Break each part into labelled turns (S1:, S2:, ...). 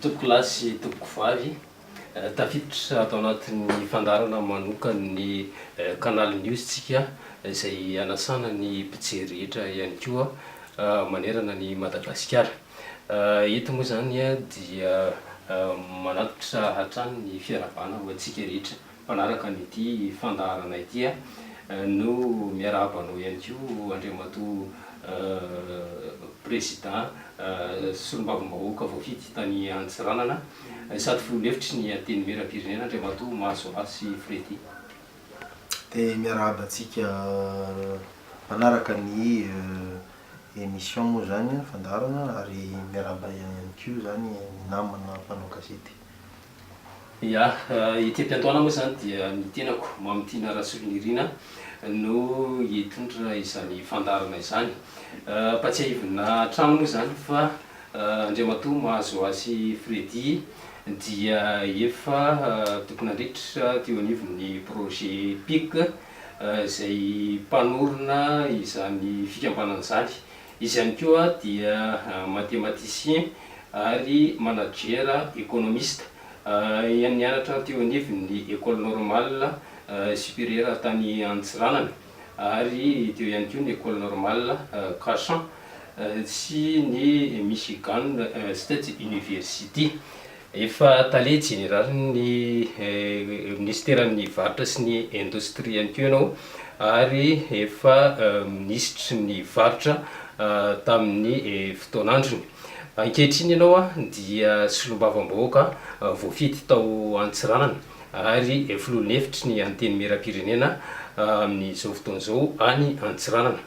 S1: Tompoko lahy sy tompoko vavy, tafiditra ato anatin'ny fandaharana manokan'ny Canal News tsika izay anasana ny mpijery rehetra ihany koa manerana an'i Madagasikara. Eto moa izany dia manatitra hatrany ny firavana ho antsika rehetra. mpanaraka an'ity fandaharana ity no miarahaba anao ihany koa Andriamatoa Président Solombavambahoaka voafidy tany Antsiranana sady Filoha lefitry ny Antenimierampirenena Andriamatoa Mahasoa sy Freddy.
S2: Dia miarahaba antsika mpanaraka ny émission moa izany fandaharana ary miarahaba ihany koa izany ny namana mpanao gazety
S1: Yah, ity mpiantoana moa izany dia ny tenako, Mamitiana Rasolonirina, no hitondra izany fandaharana izany. Ampatsiahivina hatrany moa izany fa Andriamatoa Mahazoasy Freddy dia efa tompon'andraikitra teo anivon'ny Projet PIC izay mpanorina izany fikambanana izany Izy ihany koa dia matematisien ary manajera, economiste. Nianatra teo anivon'ny Ecole Normale Supérieure tany Antsiranana ary teo ihany koa ny Ecole Normale Cashan sy ny Michigan State University. Efa tale jeneralin'ny minisiteran'ny varotra sy ny indostria ihany koa ianao ary efa minisitry ny varotra tamin'ny fotoan'androny. Ankehitriny ianao dia solombavambahoaka voafidy tao Antsiranana. ary filoha lefitry ny Antenimierampirenena amin'izao fotoana izao any Antsiranana.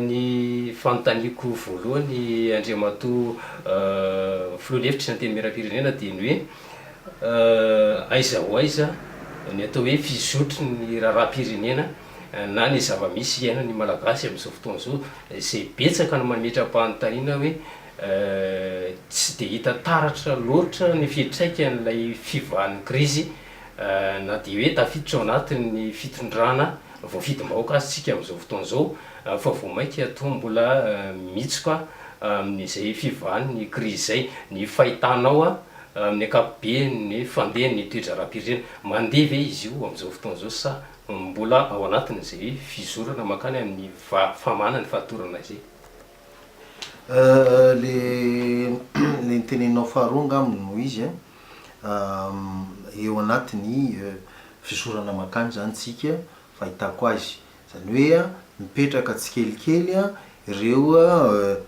S1: Ny fanontaniako voalohany Andriamatoa filoha lefitry ny Antenimierampirenena dia ny hoe aiza ho aiza ny atao hoe fizotry ny raharaham-pirenena na ny zava-misy iainan'ny Malagasy amin'izao fotoana izao izay betsaka no mametra-panontaniana hoe Tsy dia hita taratra loatra ny fiantraikan'ilay fivoahan'ny krizy na dia hoe tafiditra ao anatin'ny fitondrana voafidim-bahoaka aza isika amin'izao fotoana izao fa vao mainka toa mbola miitsoka amin'izay fivoahan'ny krizy izay. Ny fahitanao amin'ny ankapobeny ny fandehan'ny toe-dRaharaham-pirenena, mandeha ve izy io amin'izao fotoana izao sa mbola ao anatin'izay fizorana mankany amin'ny famanan'ny fahatorana izay? Le
S2: le niteneninao faharoa angamba no izy an, eo anatin'ny fizorana mankany zany tsika fahitako azy, zany hoe an mipetraka tsikelikely an ireo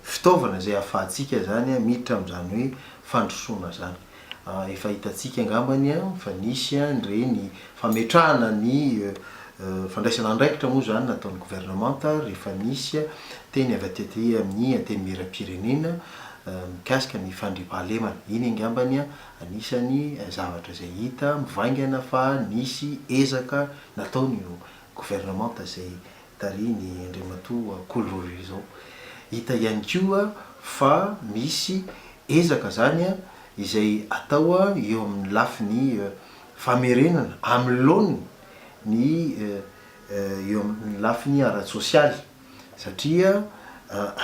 S2: fitaovana zay afahantsika zany an miditra amzany hoe fandrosoana zany. Efa hitantsika angambany fa nisy ny re ny fametrahana ny fandraisana andraikitra moa izany nataon'ny governemanta rehefa nisy teny avy aty amin'ny Antenimierampirenena mikasika ny fandriampahalemana. Iny angambany anisan'ny zavatra izay hita mivaingana fa nisy ezaka nataon'io governemanta izay tarihin'i Andriamatoa Kolo Roger izao. Hita ihany koa fa misy ezaka izany izay atao eo amin'ny lafiny famerenana amin'ny laoniny ny eo amin'ny lafiny ara-tsosialy satria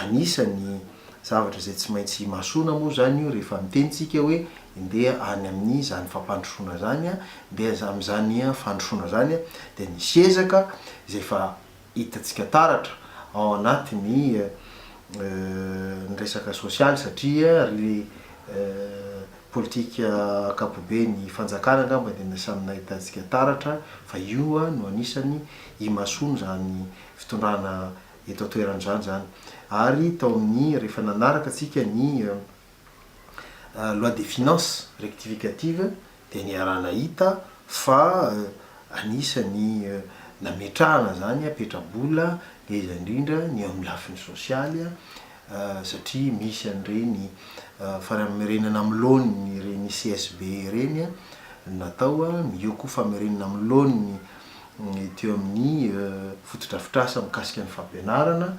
S2: anisan'ny Zavatra izay tsy maintsy imasoana moa izany io rehefa miteny tsika hoe ndeha any amin izany fampandrosoana izany a, ndeha amin izany fandrosoana izany a, dia nisy ezaka izay efa hitantsika taratra ao anaty ny ny resaka sosialy satria ry politika ankapobe ny fanjakana angamba dia samy nahitantsika taratra fa io no anisany imasoana izany fitondrana eto an-toerana izany izany. Ary tao amin'ny, rehefa nanaraka tsika ny loi des finances rectificative dia niaraha-nahita fa anisan'ny nametrahana izany petra-bola ngeza indrindra ny eo amin'ny lafiny sosialy satria misy an'ireny fanamerenana amin'ny laoniny ireny CSB ireny natao, eo koa famerenana amin'ny laoniny ny teo amin'ny fotodrafitrasa mikasika ny fampianarana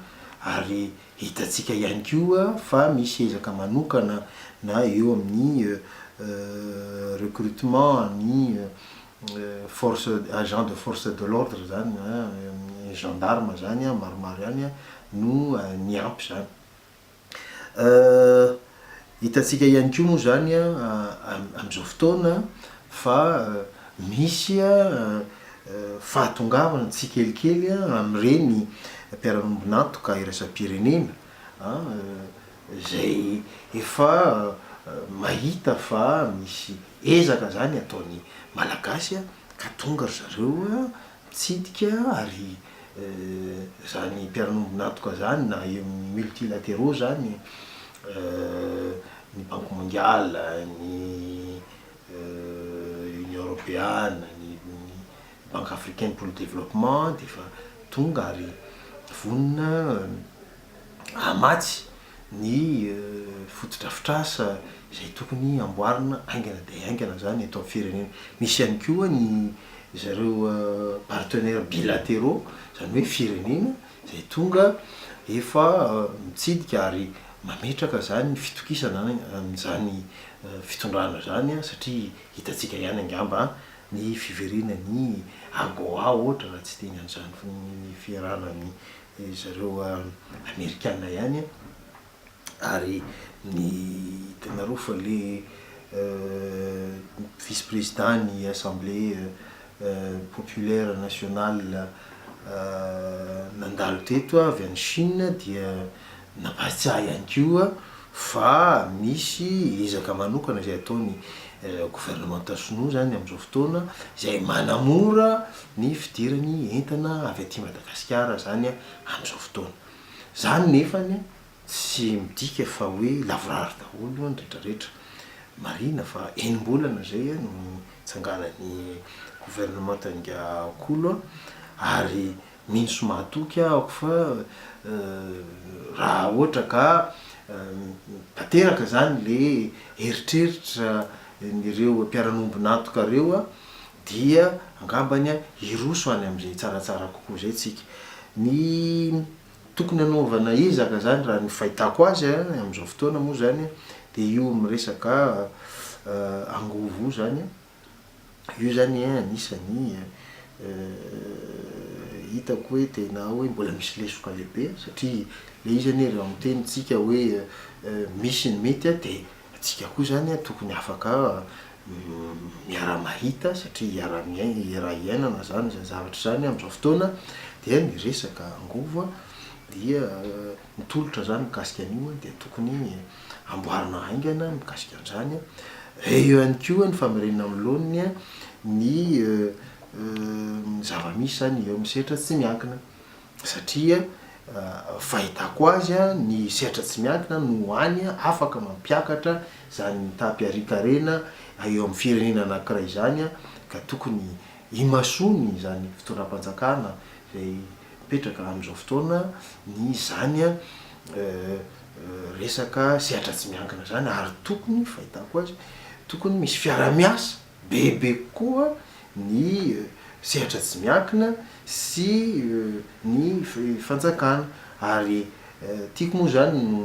S2: ary hitantsika ihany koa fa misy ezaka manokana na eo amin'ny recrutement an'ny force agent de force de l'ordre izany na ny gendarme izany maromaro ihany no niampy izany. Hitantsika ihany koa moa izany amin'izao fotoana fa misy fahatongavana tsikelikely amin'ireny mpiara-miombon'antoka iraisam-pirenena izay efa mahita fa misy ezaka izany ataon'ny Malagasy ka tonga ry zareo Mitsidika ary izany mpiara-nombon'antoka izany na eo amin'ny multilateraux izany ny banque mondiale, ny Union Europeana, ny banque africaine pour le développement dia efa tonga ary vonona hamatsy ny fotodrafitrasa izay tokony hamboarina haingana dia haingana izany eto amin'ny firenena. Misy ihany koa ny zareo partenaires bilateraux, izany hoe firenena izay tonga efa mitsidika ary mametraka izany fitokisana an'izany fitondrana izany satria hitantsika ihany angamba ny fiverenan'ny AGOA ohatra raha tsy diany an'izany ny fiarahana amin'ny Izy ireo Amerikana ihany ary ny hitanareo fa le vice président ny assemblée populaire nationale nandalo teto avy any Chine dia Nampahatsiahy ihany koa fa misy ezaka manokana izay ataon'ny governemanta sinoa izany amin'izao fotoana izay manamora ny fidiran'ny entana avy aty Madagasikara izany amin'izao fotoana. Izany nefa tsy midika fa hoe lavorary daholo ny rehetrarehetra. Marihina fa enim-bolana izay no nitsanganan'ny governemanta Ngatokolo ary Mino sy mahatoky aho fa raha ohatra ka tanteraka izany le eritreritra n'ireo mpiara-nombon'antoka ireo dia angambany hiroso any amin'izay tsaratsara kokoa izay tsika. Ny tokony hanaovana ezaka izany raha ny fahitako azy amin'izao fotoana moa izany dia io miresaka angovo io izany. io zany anisany hitako hoe tena hoe mbola misy lesoka lehibe satria le izy anie raha miteny tsika hoe misy ny mety de atsika koa zany tokony afaka miara mahita satria hiara miaina hiara hiainana zany zany zavatra zany amizao fotoana dia ny resaka angovo dia ny tolotra zany mikasika an'io dia tokony amboarina haingana mikasika an'izany, eo ihany koa ny famerenana amin'ny laoniny ny zava-misy zany eo amin'ny sehatra tsy miankina satria fahitako azy ny sehatra tsy miankina no any afaka mampiakatra izany taham-piarian-karena eo amin'ny firenena anankiray izany ka tokony himasoany izany fitondram-panjakana izay mipetraka amin'izao fotoana ny izany resaka sehatra tsy miankina izany ary tokony fahitako azy tokony misy fiarahamiasa bebe kokoa ny sehatra tsy miankina sy ny fanjakana ary tiako moa izany no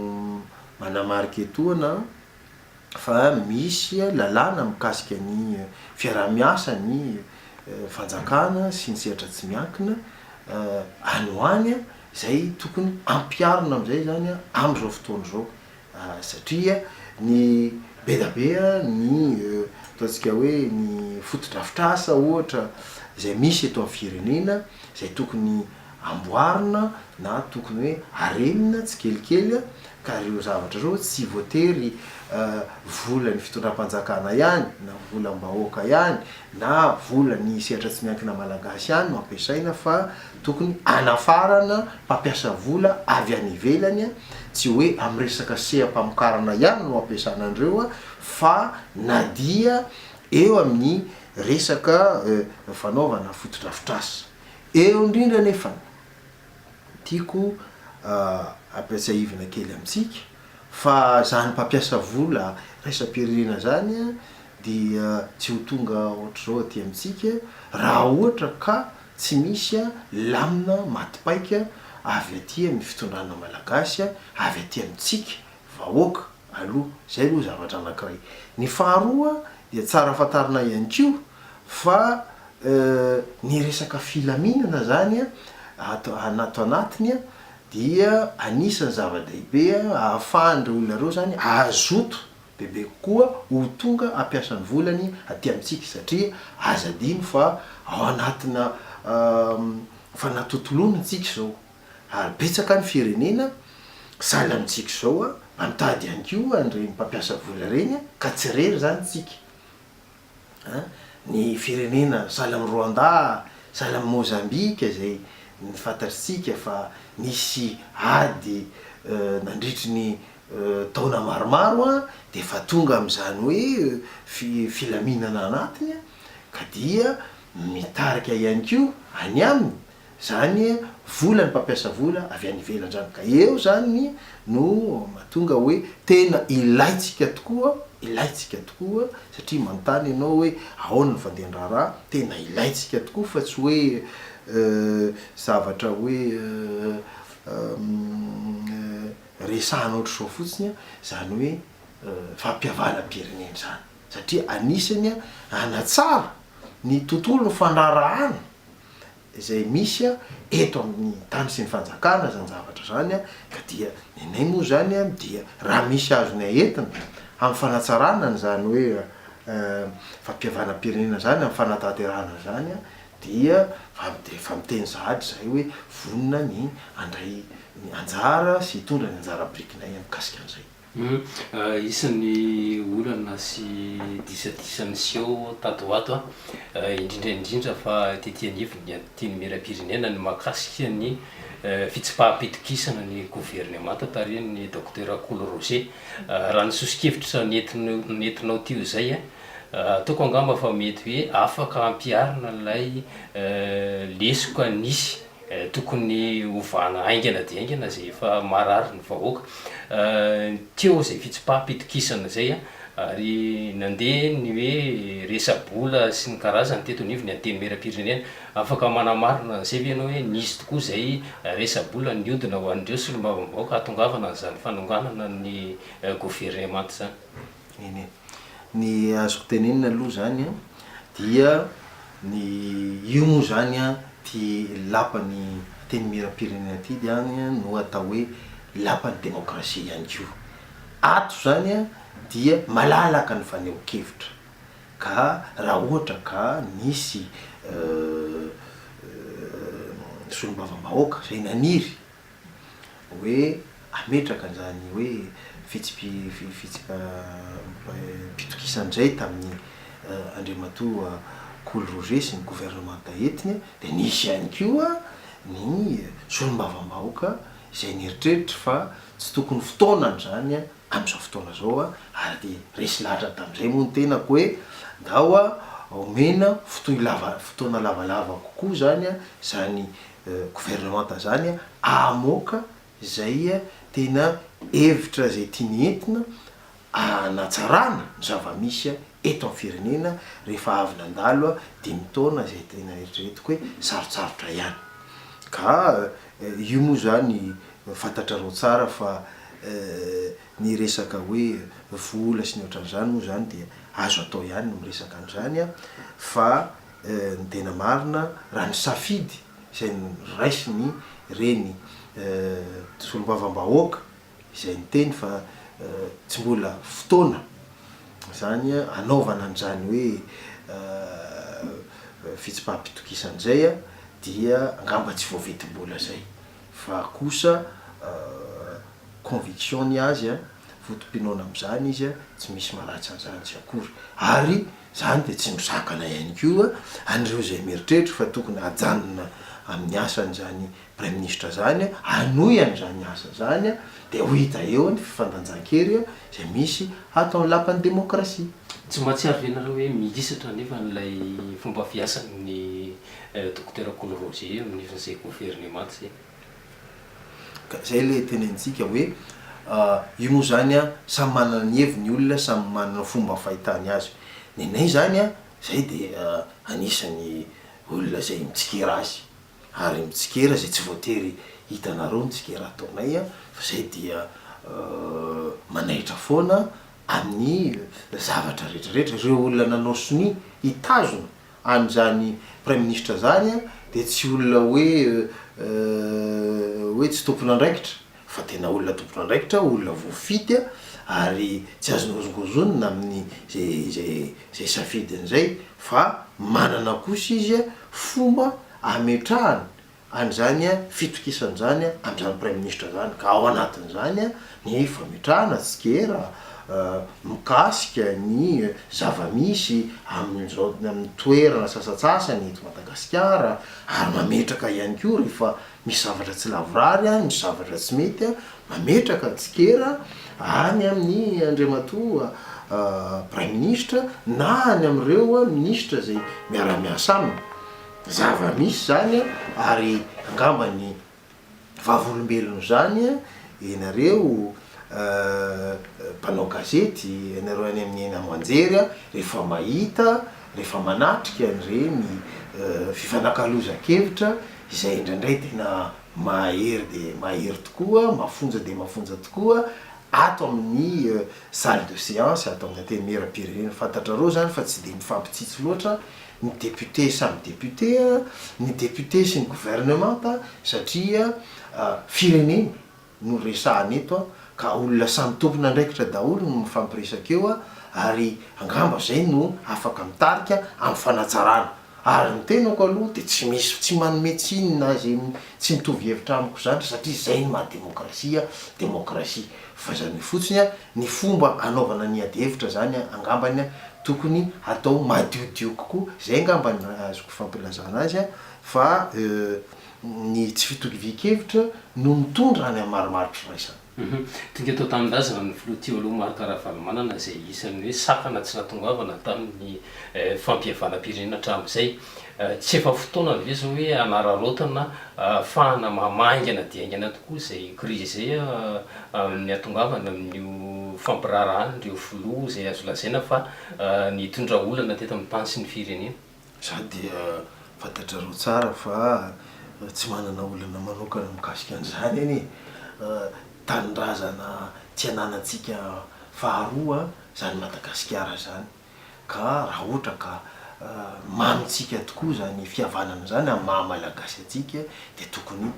S2: manamarika etoana fa misy lalàna mikasika ny fiaraha-miasa ny fanjakana sy ny sehatra tsy miankina any ho any izay tokony ampiharina amin'izay izany amin'izao fotoana izao satria ny be dia be ny ataontsika hoe ny fotodrafitrasa ohatra izay misy eto amin'ny firenena izay tokony amboarina na tokony hoe arenina tsikelikely ka ireo zavatra ireo tsy voatery volan'ny fitondram-panjakana ihany na volam-bahoaka ihany na volan'ny sehatra tsy miankina malagasy ihany no ampiasaina fa tokony hanafarana mpampiasa vola avy any ivelany tsy hoe amin'ny resaka seha-pamokarana ihany no ampiasana an'ireo fa na dia eo amin'ny resaka fanaovana fotodrafitrasa. Eo indrindra anefa no tiako ampiatsahivina kely amintsika fa izany mpampiasa vola iraisam-pirenena izany dia tsy ho tonga ohatr'izao aty amintsika raha ohatra ka tsy misy lamina maty paika avy aty amin'ny fitondrana malagasy, avy aty amintsika vahoaka aloha. Izay aloha zavatra anankiray. Ny faharoa dia tsara fantarina ihany koa fa ny resaka filaminana izany ato anatiny dia anisan'ny zava-dehibe ahafahan'ireo olona ireo izany hazoto bebe kokoa ho tonga hampiasa ny volany aty amintsika satria aza adino fa ao anatina fanatontoloana isika izao. Ary betsaka ny firenena sahala amintsika izao a, mba mitady ihany koa an'ireny mpampiasa vola ireny ka tsy irery izany isika a, ny firenena sahala amin'i Rwanda, sahala amin'i Mozambika izay ny fantatritsika fa nisy ady nandritry ny taona maromaro a, dia efa tonga amin'izany hoe fi filaminana anatiny a, ka dia mitarika ihany koa any aminy Zany vola ny mpampiasa vola avy any ivelany zany ka eo zany no matonga oe tena ilaintsika tokoa ilaintsika tokoa satria manontany enao oe aona ny fandehan draharaha tena ilaintsika tokoa fa tsy oe zavatra oe resahana ohatry zao fotsiny zany oe fampihavanam pirenena zany satria anisany hanatsara ny tontolo ny fandraharahana izay misy eto amin'ny tany sy ny fanjakana izany zavatra izany ka dia ny anay moa izany dia raha misy azonay entina amin'ny fanatsarana an'izany hoe fampihavanam-pirenena izany amin'ny fanatanterahana izany dia efa miteny sahady izahay hoe vonona ny handray ny anjara sy hitondra ny anjara birikinay mikasika an'izay. Humm isan'ny
S1: olana sy disadisa niseho tato ho ato indrindra indrindra fa tety anivon'ny Antenimierampirenena ny mahakasika ny fitsipaham-pitokisana ny governemanta tarihin'ny Docteur Kolo Roger. Raha ny soso-kevitra nentinao teo izay ataoko angamba fa mety hoe afaka ampiharina ilay lesoka nisy. Tokony hovahana haingana dia haingana izay efa marary ny vahoaka. Teo izay fitsipaham-pitokisana izay ary nandeha ny hoe resa-bola sy ny karazany teto anivon'ny Antenimieram-pirenena. Afaka manamarina an'izay ve ianao hoe nisy tokoa izay resa-bola nihodina ho an'ireo solombavambahoaka hahatongavana an'izany fanonganana ny governemanta izany?
S2: Ny azoko tenenina aloha zany an, dia ny io moa zany an ty lapan'ny antenimieram-pirenena ty dia any an no atao hoe lapan'ny demokrasia ihany koa. Ato zany an dia malalaka ny fanehoan-kevitra ka raha ohatra ka nisy solombavambahoaka izay naniry hoe hametraka izany hoe fitsipitokisan izay tamin'ny Andriamatoa Kolo Roger sy ny gouvernemanta etiny dia nisy ihany koa ny solombavambahoaka izay nieritreritra fa tsy tokony fotoanany izany amin'izao fotoana izao ary dia resy lahatra tamin'izay moa ny tenako hoe ndao omena fotoana lavalava kokoa izany izany governemanta izany hamoaka izay tena hevitra izay tiany entina hanatsarana ny zava-misy eto amin'ny firenena rehefa avy nandalo dimy taona izay tena eritreretiko hoe sarotsarotra ihany. Ka io moa izany fantatrareo tsara fa ny resaka hoe vola sy ny ohatran'izany moa izany dia azo atao ihany ny miresaka an'izany fa ny tena marina raha ny safidy izay noraisin'ny reny solombavambahoaka izay niteny fa tsy mbola fotoana izany anaovana an'izany hoe fitsipaham-pitokisana izay dia angamba tsy voavety mbola izay fa kosa conviction ny azy foto-pinoana amin'izany izy tsy misy maharatsy an'izany tsy akory ary Izany dia tsy misakana ihany koa an'ireo izay mieritreritra fa tokony hajanona amin'ny asany izany Praiminisitra izany, hanohy an'izany asa izany, dia ho hita eo ny fifandanjan-kery izay misy ato amin'ny Lapan'ny Demokrasia. Tsy mba tsiaro
S1: venareo hoe mihisatra anefa an'ilay fomba fiasan'ny Dokotera Kolo Roger eo amin'izay governemanta izay.
S2: Ka zay le tenenitsika hoe io moa zany an samy manana ny heviny olona, samy manana fomba fahitany azy. Ny anay zany an, zay de anisany olona zay mitsikera azy ary mitsikera zay tsy voatery hitanareo ny tsikera ataonay an, fa zay dia manaitra foana amin'ny zavatra retraretra, reo olona nanao sonia hitazona any zany praiminisitra zany dia tsy olona hoe hoe tsy tompon'andraikitra fa tena olona tompon'andraikitra, olona voafidy ary tsy azo nozongozonina amin'ny izay izay safidiny izay fa manana kosa izy fomba ametrahany an'izany fitokisana izany an'izany Praiminisitra izany ka ao anatin'izany ny fametrahana tsikera mikasika ny zava-misy amin'izao amin'ny toerana sasantsasany eto Madagasikara ary mametraka ihany koa rehefa misy zavatra tsy lavorary, misy zavatra tsy mety, mametraka tsikera any amin'ny Andriamatoa Praiminisitra na any amin'ireo Minisitra izay miara-miasa aminy. zava-misy zany ary angamba ny vavolombelon' izany ianareo mpanao gazety, ianareo any amin'ny namanjery rehefa mahita, rehefa manatrika an'ireny fifanakalozan-kevitra izay indraindray tena mahahery dia mahery tokoa, mafonja dia mafonja tokoa ato amin'ny salle de séance, ato amin'ny antenimieram-pirenena. Fantatrareo izany fa tsy dia mifampitsitsy loatra ny député samy député, ny député sy ny gouvernemanta satria firenena no resahana eto ka olona samy tompon'andraikitra daholo no mifampiresaka eo ary angamba zay no afaka mitarika amin'ny fanatsarana ary ny tenako aloha dia tsy misy tsy manome tsiny na zay tsy mitovy hevitra amiko zany satria zay ny maha démocratie, démocratie. Fa izany eo fotsiny ny fomba anaovana ny adihevitra izany angambany tokony atao madiodio kokoa, izay angamba no azoko ifampilazana azy fa ny tsy fitovian-kevitra no mitondra any amin'ny maromaro firaisana. Tonga eto
S1: an-tanindrazana ny filoha Tiolo Marc Ravalomanana izay isan'ny hoe sakana tsy nahatongoavana tamin'ny fampihavanam-pirenena hatramin'izay. Tsy efa fotoana ve zao hoe hanararaotana ahafahana mamaingana diaingana tokoa izay crise amin'ny hatongavana amin'io fampirarahana ireo filoha izay azo lazaina fa nitondra olana teto amin'ny tany sy ny firenena? Za dia
S2: fantatrareo tsara fa tsy manana olana manokana mikasika an'izany anie. Tanindrazana tsy ananantsika faharoa zany Madagasikara zany. ka raha ohatra ka mamy tsika tokoa zany fihavanana zany amin'ny maha malagasy antsika dia tokony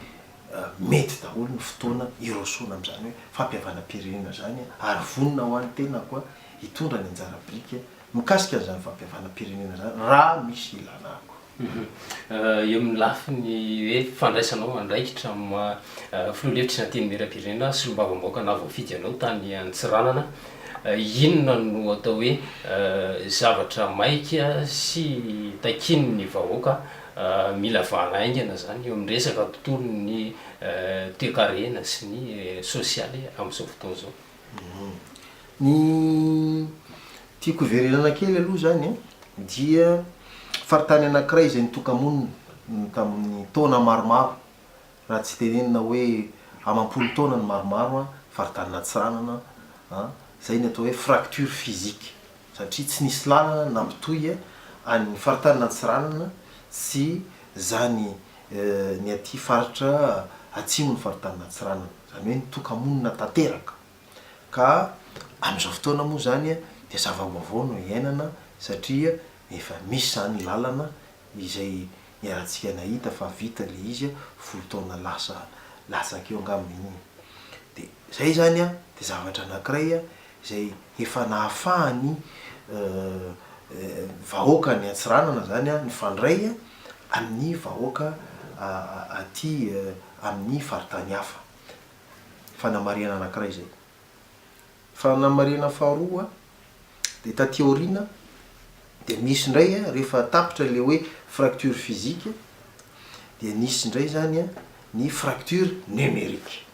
S2: mety daholo ny fotoana hirosoana amin'izany hoe fampihavanam-pirenena izany ary vonona ho an'ny tenako hitondra ny anjara birika mikasika an'izany fampihavanam-pirenena izany raha misy ilana ahy koa.
S1: Eo amin'ny lafiny hoe fandraisanao andraikitra amin'ny maha filoha lefitry ny Antenimierampirenena, solombavambahoaka nahavoafidy anao tany Antsiranana, inona no atao hoe zavatra maika sy takian'ny vahoaka mila vahana haingana izany eo amin'ny resaka mpitolon'ny toekarena sy ny sosialy amin'izao fotoana izao? Ny
S2: tiako hiverenana kely aloha izany dia faritany anankiray izay nitoka-monina tamin'ny taona maromaro, raha tsy tenenina hoe amam-polo taona ny maromaro, faritanin'Antsiranana an, izay ny atao hoe fracture physique satria tsy nisy lalana nampitohy an'ny faritanin'Antsiranana sy izany ny aty faritra atsimon'ny faritanin'Antsiranana, izany hoe nitoka-monina tanteraka. Ka amin'izao fotoana moa izany dia zava-baovao no iainana satria efa misy izany lalana izay iarahantsika nahita fa vita ilay izy folo taona lasa latsaka eo angamba iny. Dia izay izany dia zavatra anankiray izay efa nahafahan'ny vahoakan'i Antsiranana izany nifandray amin'ny vahoaka aty amin'ny faritany hafa. Fanamarihana anankiray izay. Fanamarihana faharoa dia taty aoriana dia misy indray rehefa tapitra ilay hoe fracture physique dia nisy indray izany ny fracture numérique.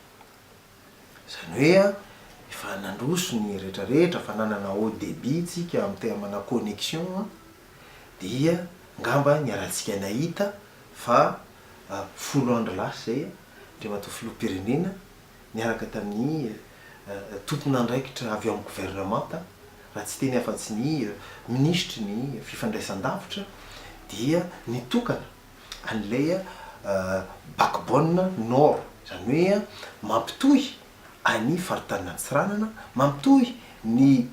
S2: Izany hoe efa nandroso ny rehetrarehetra, efa nanana haut débit isika amin'ny terme-na connexion. dia ngamba niarahantsika nahita fa folo andro lasa izay Andriamatoa Filoham-pirenena niaraka tamin'ny tompon'andraikitra avy ao amin'ny governemanta, raha tsy teny afa-tsy ny Minisitry ny fifandraisan-davitra dia nitokana an'ilay backbone Nord, izany hoe mampitohy any faritanin'Antsiranana mamitohy ny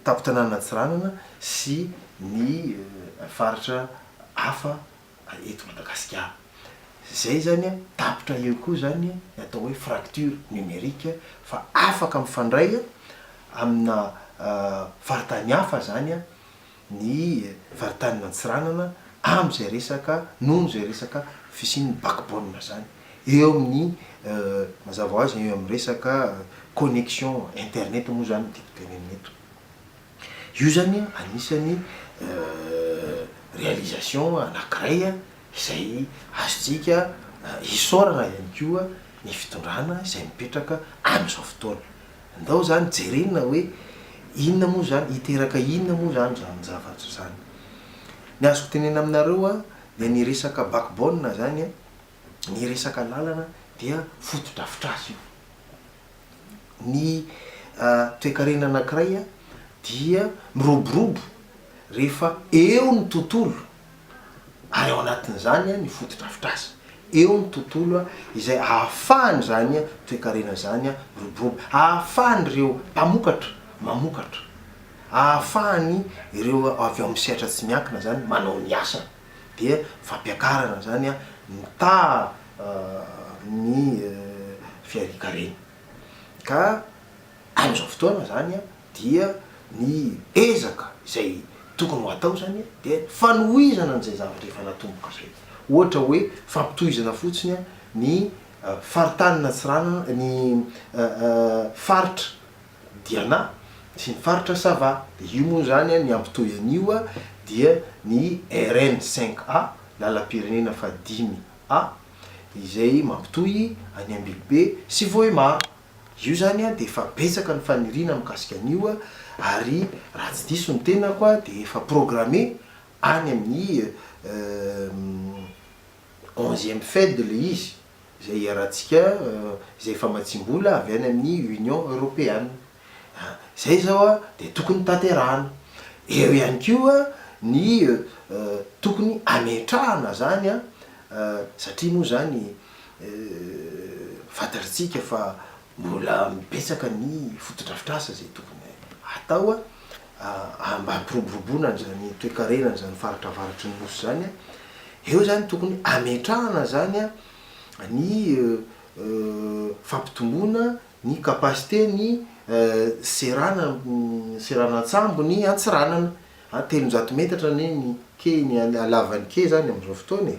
S2: tampon-tanànan'Antsiranana sy ny faritra hafa eto Madagasikara. Izay izany tapitra eo koa izany ny atao hoe fracture numérique fa afaka mifandray amina faritany hafa izany ny varitanin'ny Antsiranana amin'izay resaka noho izay resaka fisian'ny backbone zany eo amin'ny mazava ho azy eo amin'ny resaka connexion internet moa zany no tiako tenenina eto. Io zany anisan'ny réalisation anankiray izay azontsika isaorana ihany koa ny fitondrana izay mipetraka amin'izao fotoana. Andao izany jerena hoe inona moa izany, hiteraka inona moa izany izany zavatra izany. Ny azoko tenena aminareo dia ny resaka backbone izany, ny resaka lalana dia fotodrafitrasa io. Ny toekarena anankiray dia miroborobo rehefa eo ny tontolo. ary ao anatin'izany ny fotodrafitrasa eo ny tontolo izay ahafahan'izany toekarena izany miroborobo, ahafahan'ireo mpamokatra mamokatra, ahafahan'ny ireo avy ao amin'ny sehatra tsy miankina izany manao ny asany, dia fampiakarana izany ny taha amin'ny fiarian-karena ka. Amin'izao fotoana izany dia ny ezaka izay tokony ho atao izany dia ny fanohizana an'izay zavatra efa natomboka izay. Ohatra hoe fampitohizana fotsiny ny faritany Natsiranana, ny faritra Diana sy ny faritra Sava. Dia io moa izany ny hampitohy an'io dia ny RN cinq A, lalam-pirenena fahadimy A, izay mampitohy an'i Ambilobe sy Vohemar. Io zany dia efa betsaka ny faniriana mikasika an'io ary raha tsy diso ny tenako dia efa programme any amin'ny onzième fed ilay izy izay iharantsika izay famatsiam-bola avy any amin'ny Union Europeana. Izay izao dia tokony tanterahana. Eo ihany koa ny tokony hametrahana izany satria moa izany Fantatritsika fa mbola betsaka ny fotodrafitrasa izay tokony hatao mba hampiroboroboana an'izany toekarena an'izany faritra avaratry ny Nosy izany. Eo izany tokony hametrahana izany ny fampitomboana ny capacité ny seranan'ny seranan-tsambo ny Antsiranana. Telonjato metatra anie ny quai ny halavan'ny quai izany amin'izao fotoana e!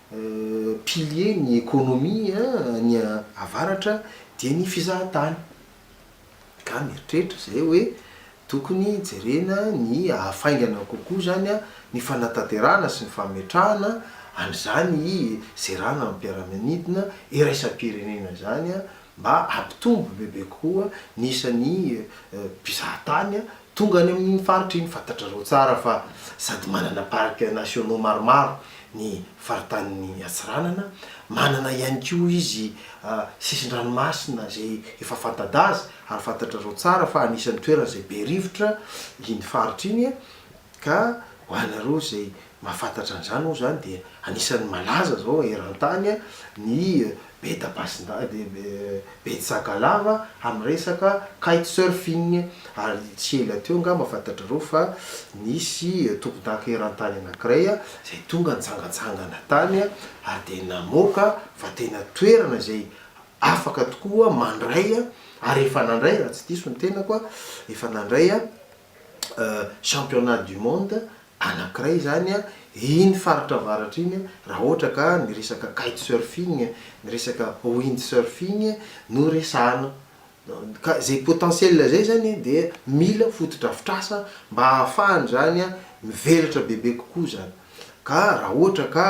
S2: pilier ny economie ny avaratra dia ny fizahantany ka mieritreritra zay hoe tokony jerena ny ahafaingana kokoa zany ny fanatanterahana sy ny fametrahana an'izany zerana ampiaraminidina iraisam-pirenena zany mba hampitombo bebe kokoa ny isan'ny mpizaha tany tonga any amin'iny faritra iny. Fantatrareo tsara fa sady manana parcs nationaux maromaro ny faritanin'i Antsiranana, manana ihany koa izy sisin-dranomasina izay efa fanta-daza, ary fantatrareo tsara fa anisan'ny toerana izay be rivotra iny faritra iny, ka ho anareo izay Mahafantatra an'izany moa izany dia anisan'ny malaza izao eran-tany ny Betsakalava amin'ny resaka kite surfing ary tsy ela teo angamba fantatrareo fa nisy tompondaka eran-tany anankiray izay tonga nitsangantsangana tany ary dia namoaka fa tena toerana izay afaka tokoa mandray ary efa nandray raha tsy diso ny tenako, efa nandray. championnat du monde anankiray izany a, iny faritra avaratra iny raha ohatra ka ny resaka kite surfing, ny resaka wind surfing no resahana. Ka izay potentiel izay izany dia mila fotodrafitrasa mba hahafahany izany mivelatra bebe kokoa izany. Ka raha ohatra ka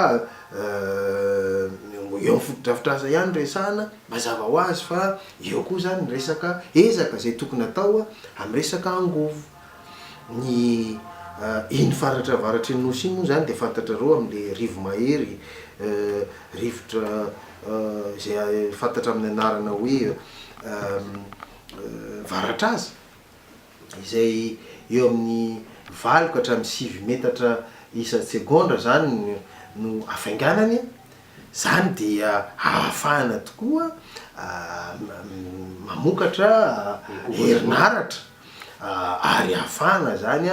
S2: eo amin'ny fotodrafitrasa ihany no resahana, mazava ho azy fa eo koa izany ny resaka ezaka izay tokony atao amin'ny resaka angovo. Ny iny faritra avaratry ny Nosy iny moa izany dia fantatrareo amin'ilay rivo-mahery, rivotra izay fantatra amin'ny anarana hoe Varatraza. izay eo amin'ny valo ka hatramin'ny sivy metatra isan-tsegondra izany no hafainganany, izany dia hahafahana tokoa mamokatra herinaratra ary hahafahana izany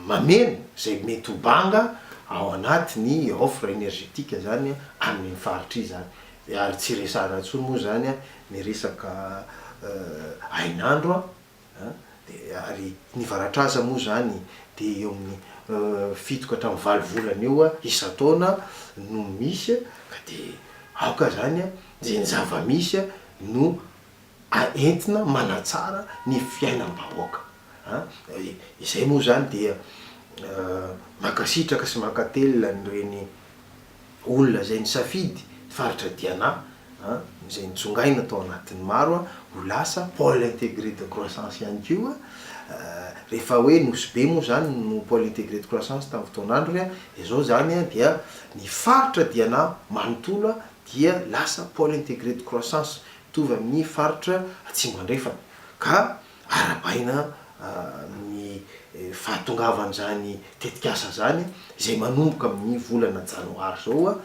S2: mameno izay mety ho banga ao anatin'ny offre énergétique izany amin'iny faritra iny izany. Ary tsy resahana intsony moa izany ny resaka hainandro an, dia ary ny varatraza moa izany dia eo amin'ny fito ka hatramin'ny valo volana eo isan-taona no misy ka dia aoka izany izay ny zava-misy no entina manatsara ny fiainam-bahoaka an, izay moa izany dia mankasitraka sy mankatelina an'ireny Olona izay nisafidy faritra Diana an, izay nitsongaina tao anatin'ny maro an, ho lasa pole integre de croissance ihany koa an, rehefa hoe Nosy Be moa izany no pole integre de croissance tamin'ny fotoan'androny an, dia izao izany an, dia ny faritra Diana manontolo an, dia lasa pole integre de croissance mitovy amin'ny faritra Atsimo Andrefana, ka Arahabaina ny fahatongavan'izany tetikasa izany izay manomboka amin'ny volana janoary izao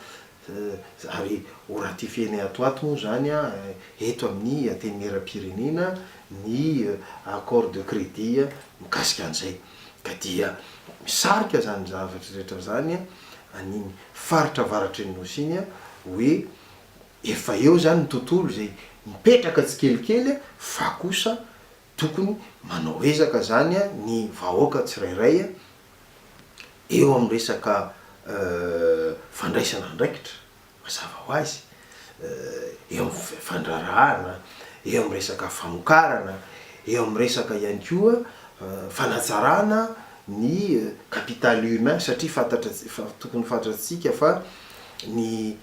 S2: ary ho ratifienay ato ho ato moa izany eto amin'ny Antenimierampirenena ny accord de crédit mikasika an'izay. Ka dia misarika izany zavatra rehetra izany an'iny faritra Avaratr'i Nosy iny hoe Efa eo izany ny tontolo izay mipetraka tsikelikely fa kosa tokony manao ezaka izany ny vahoaka tsirairay eo amin'ny resaka fandraisana andraikitra mazava ho azy, eo amin'ny fandraharahana, eo amin'ny resaka famokarana, eo amin'ny resaka ihany koa fanatsarana ny capital humain satria fantatra tokony fantatsika fa ny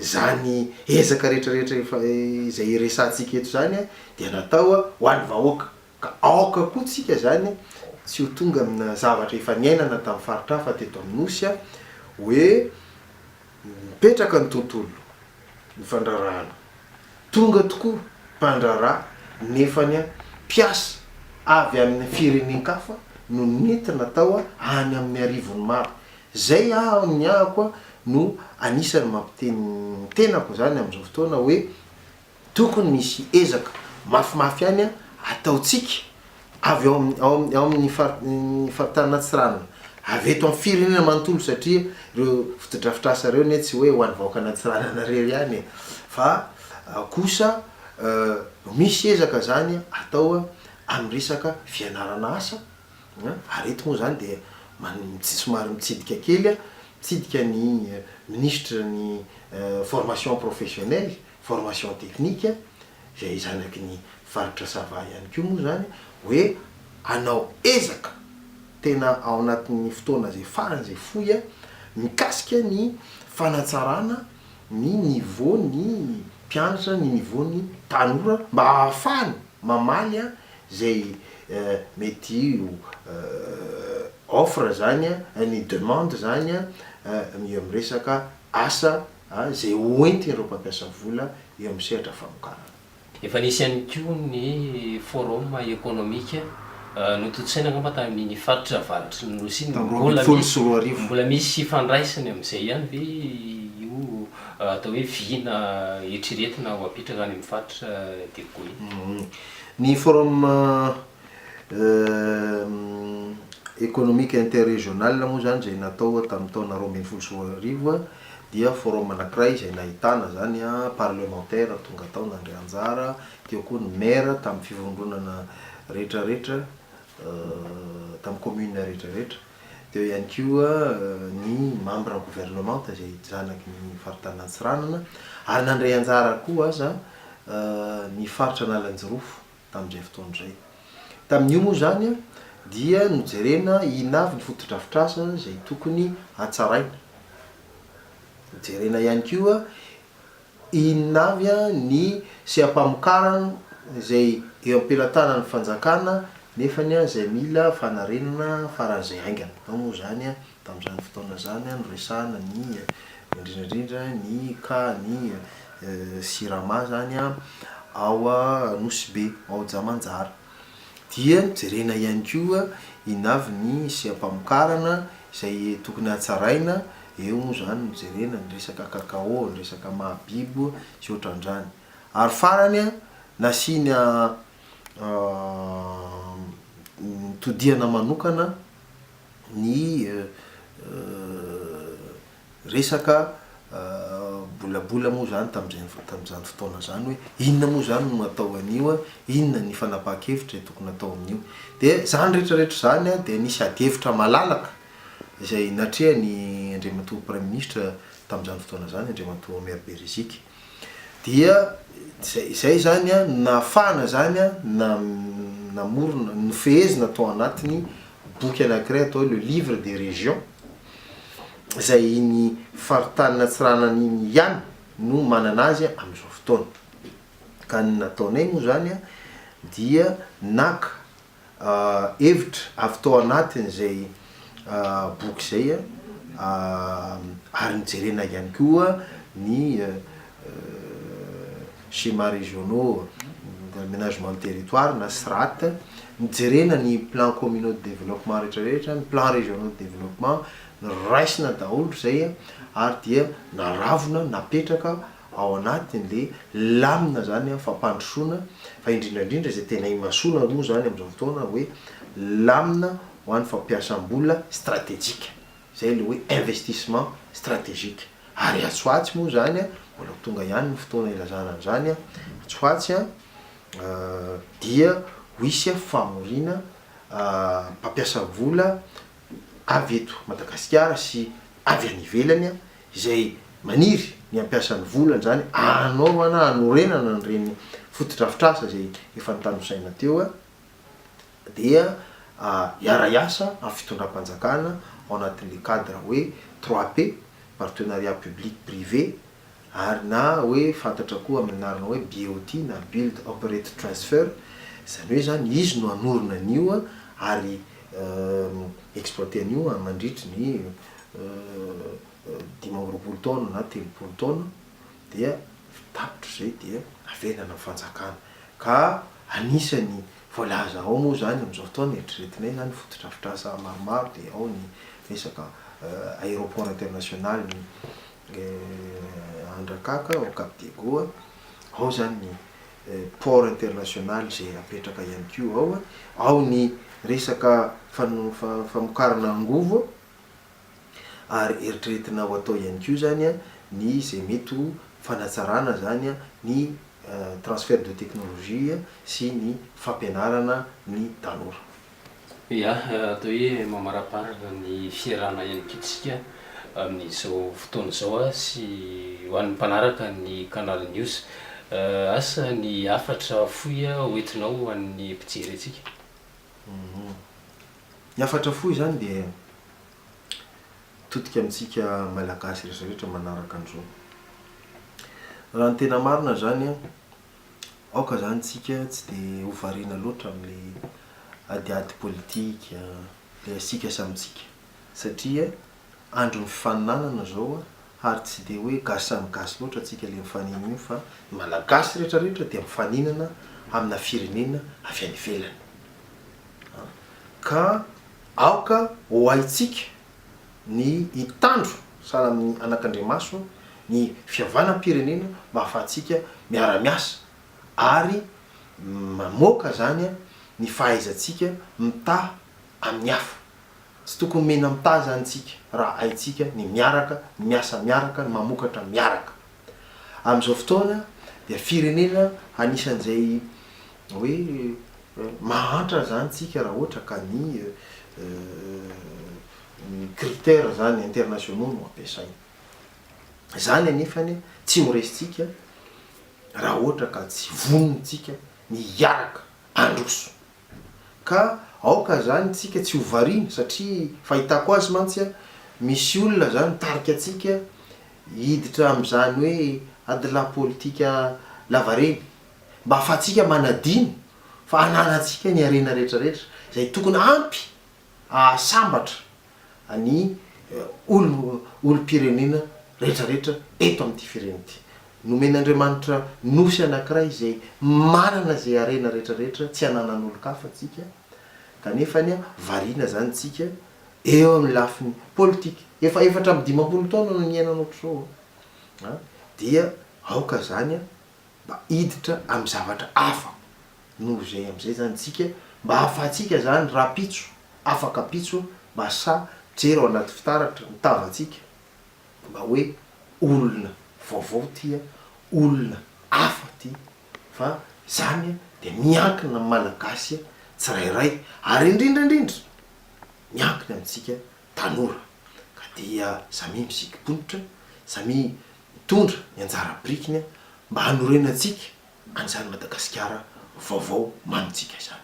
S2: Izany ezaka rehetra rehetra efa izay iresahantsika eto izany dia natao ho an'ny vahoaka ka aoka koa tsika izany tsy ho tonga amina zavatra efa niainana tamin'ny faritra hafa teto amin'ny Nosy hoe mipetraka ny tontolo ny fandrarahana tonga tokoa mpandrara nefany mpiasa avy any firenen-kafa no nentina tao any amin'ny arivony maro Izay aho ny ahako no anisan'ny mampiteny ny tenako izany amin'izao fotoana hoe tokony misy ezaka mafimafy ihany ataontsika avy ao amin'ny ao amin'ny faritany Antsiranana, avy eto amin'ny firenena manontolo satria ireo fotodrafitrasa ireo anie tsy hoe ho an'ny vahoakan'i Antsiranana irery ihany e! fa kosa misy ezaka izany atao amin'ny resaka fianarana asa, Ary eto moa izany dia somary mitsidika kely aho, mitsidika ny minisitry ny formation professionnelle, formation technique, izay zanaky ny faritra Sava ihany koa moa izany, hoe hanao ezaka tena ao anatin'ny fotoana izay farany izay fohy mikasika ny fanatsarana ny niveau-n'ny mpianatra, ny niveau-n'ny tanora mba hahafahany mamaly Zay mety ho offre zany an, ny demande zany an, eo amin'ny resaka asa izay hoentin'ireo mpampiasa vola eo amin'ny sehatra famokarana. Efa nisy ihany
S1: koa ny forum ekonomika notontosaina angamba tamin'iny faritra avaratry ny Nosy iny. Tamin'ny roa ambin'ny folo sy roa arivo. Mbola misy ifandraisany amin'izay ihany ve io atao hoe vina eritreretina ho apetraka any amin'ny faritra Diego iny? Ny
S2: forum économique interrégional moa izany izay natao tamin'ny taona roa ambin'ny folo sy roa arivo dia forum anankiray izay nahitana izany parlemantera tonga tao nandray anjara, teo koa ny maire tamin'ny fivondronana rehetrarehetra tamin'ny commune rehetrarehetra. Dia eo ihany koa ny mambran'ny governemanta izay zanaky ny faritany Antsiranana ary nandray anjara koa aza ny faritra Analanjirofo tamin'izay fotoana izay. Tamin'io moa izany dia nojerena inn avy ny fotodrafitrasa izay tokony hatsaraina. Nojerena ihany koa Inona avy ny sehampamokarana izay eo am-pelatanan'ny fanjakana nefa izay mila fanarenana faran'izay haingana? Tao moa izany tamin'izany fotoana izany no resahana ny indrindra indrindra ny cas ny Jirama izany ao Nosy Be ao Jamanjara. dia jerena ihany koa inavy ny seha-pamokarana izay tokony hatsaraina, eo moa izany no jerena ny resaka cacao, ny resaka maha bibo sy ohatran'izany. Ary farany nasiana nitodihana manokana ny. Resaka bolabola moa izany tamin'izany fotoana izany hoe inona moa izany no atao an'io, inona ny fanapahan-kevitra izay tokony atao amin'io. Dia izany rehetra rehetra izany dia nisy adihevitra malalaka izay natrehan'i Andriamatoa Praiminisitra tamin'izany fotoana izany, Andriamatoa Omer Beriziky. Dia izay izay izany no nahafahana izany namorona, nofehezina tao anatin'ny boky anankiray atao hoe Le Livre des Régions. izay iny faritanin'Antsiranana iny ihany no manana azy amin'izao fotoana. Ka ny nataonay moa izany dia naka hevitra avy tao anatin'izay boky izay ary nojerena ihany koa ny Schémas régionaux d'aménagement de territoire na SRAT, ny jerena ny plans communaux de développement rehetra rehetra, ny plans régionaux de développement, noraisina daholo izay ary dia naravona, napetraka ao anatin'le lamina zany fampandrosoana fa indrindra indrindra izay tena imasoana aloha zany amin'izao fotoana hoe lamina ho an'ny fampiasam-bola stratégique, izay le hoe investissement stratégique. Ary atsy ho atsy moa izany an, mbola ho tonga ihany ny fotoana hilazana an'izany an, atsy ho atsy an, dia ho hisy famoriana mpampiasa vola avy eto Madagasikara sy avy any ivelany an, izay maniry ny hampiasa ny volany izany hanaovana hanorenana an'ireny fotodrafitrasa izay efa notanisaina teo an. dia hiara-hiasa amin'ny fitondram-panjakana ao anatin'ilay cadre hoe trois P, partenariat public privé, ary na hoe fantatra koa amin'ny anarana hoe BOT na Build Operate Transfer, izany hoe izany izy no hanorina an'io ary mi-exploiter an'io mandritry ny dimy amby roapolo taona na telopolo taona. dia tapitra izay dia avelana ny fanjakana. Ka anisan'ny voalaza ao moa izany amin'izao fotoana eritreretina eny ny fotodrafitrasa maromaro dia ao ny resaka aéroport international ny Andrakaka ao Cap Diego, ao izany ny port international izay apetraka ihany koa ao, ao ny resaka famokarana angovo ary eritreretina ho atao ihany koa izany ny izay mety ho fanatsarana izany ny transfert de technologie sy ny fampianarana ny tanora. Ia,
S1: atao hoe mamaraparana ny fiarahana ihany koa isika amin'izao fotoana izao sy ho an'ny mpanaraka ny Canal News. Asa ny hafatra fohy ho entinao ho an'ny mpijery antsika?
S2: Ny hafatra fohy izany dia mitodika amintsika Malagasy rehetra rehetra manaraka an'izao. Raha ny tena marina izany an, aoka izany tsika tsy dia ho variana loatra amin'ilay adiady politika, ilay antsika samy tsika satria Andron'ny fifaninanana zao a, ary tsy dia hoe gasy samy gasy loatra antsika le mifanina io fa ny malagasy rehetra rehetra dia mifaninana amina firenena avy any ivelany an! Ka aoka ho haintsika ny hitandro sahala amin'ny anakandriamaso ny fihavanam-pirenena mba hahafahantsika miara miasa ary mamoaka zany ny fahaizantsika mitaha amin'ny hafa. Tsy tokony menam-pà izany isika raha haintsika ny miaraka, ny miasa miaraka, ny mamokatra miaraka. Amin'izao fotoana dia firenena anisan'izay hoe mahantra izany isika raha ohatra ka ny critères izany internationaux no ampiasaina. Izany anefany tsy ho resintsika raha ohatra ka tsy vonintsika ny hiaraka handroso. Ka aoka zany tsika tsy ho variana satria fahitako azy mantsy a misy olona zany mitarika antsika hiditra amin'izany hoe adilahy politika lavareny mba afahantsika manadino fa ananantsika ny harena rehetra rehetra izay tokony ampy ahasambatra ny olom-pirenena rehetrarehetra eto amin'ity firenena ity. Nomen'Andriamanitra nosy anankiray izay manana izay harena rehetrarehetra tsy ananan'olon-kafa tsika kanefa variana izany tsika eo amin'ny lafiny politika. Efa efatra amby dimampolo taona no niainana ohatr'izao an! dia aoka izany mba hiditra amin'ny zavatra hafa. Noho izay amin'izay izany isika mba ahafahantsika izany rahampitso afaka ampitso mba sa mijery ao anaty fitaratra ny tavantsika mba hoe olona vaovao ty a, olona hafa ty fa izany dia miankina amin'ny Malagasy tsirairay ary indrindra indrindra miankina amintsika tanora ka dia samia misikim-ponitra, samia mitondra ny anjara birikiny mba hanorenantsika an'izany Madagasikara vaovao manintsika izany.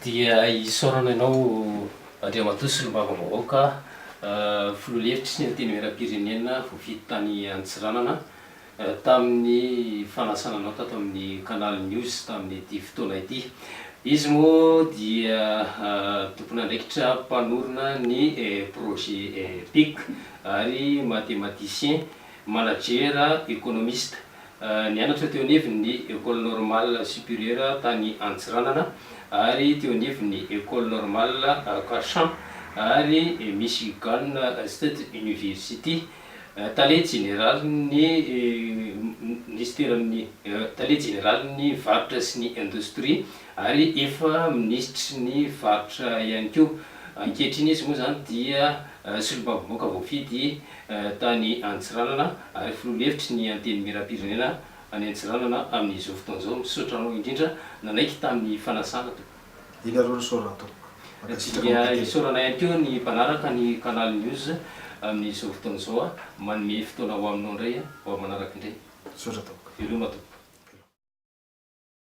S2: Dia
S1: isaorana ianao Andriamatoa Solombavambahoaka Filoha lefitry ny Antenimierampirenena voafidy tany Antsiranana tamin'ny fanasana anao tato amin'ny Canal News tamin'ity fotoana ity. Izy moa dia tompon'andraikitra mpanorina ny projet PIC ary mathematicien, managera, economiste. Nianatra teo anivon'ny Ecole Normale Supérieure tany Antsiranana ary teo anivon'ny Ecole Normale Cashan ary Michigan State University. Tale Jeneralin'ny Minisiteran'ny Tale Jeneralin'ny Varotra sy ny Indostria ary efa Minisitry ny Varotra ihany koa. Ankehitriny izy moa izany dia Solombavambaoka voafidy tany Antsiranana ary filoha lefitry ny Antenimierampirenena any Antsiranana amin'izao fotoana izao. Misaotra anao indrindra nanaiky tamin'ny fanasana tompoko. Ianareo no isaorana
S2: tompoko. Mankasitraka Dia mankatelina.
S1: isaorana ihany koa ny mpanaraka ny Canal News amin'izao fotoana izao a. Manome fotoana ho aminao indray a. Vao manaraka indray. Misaotra tompoko. Veloma tompoko. Veloma.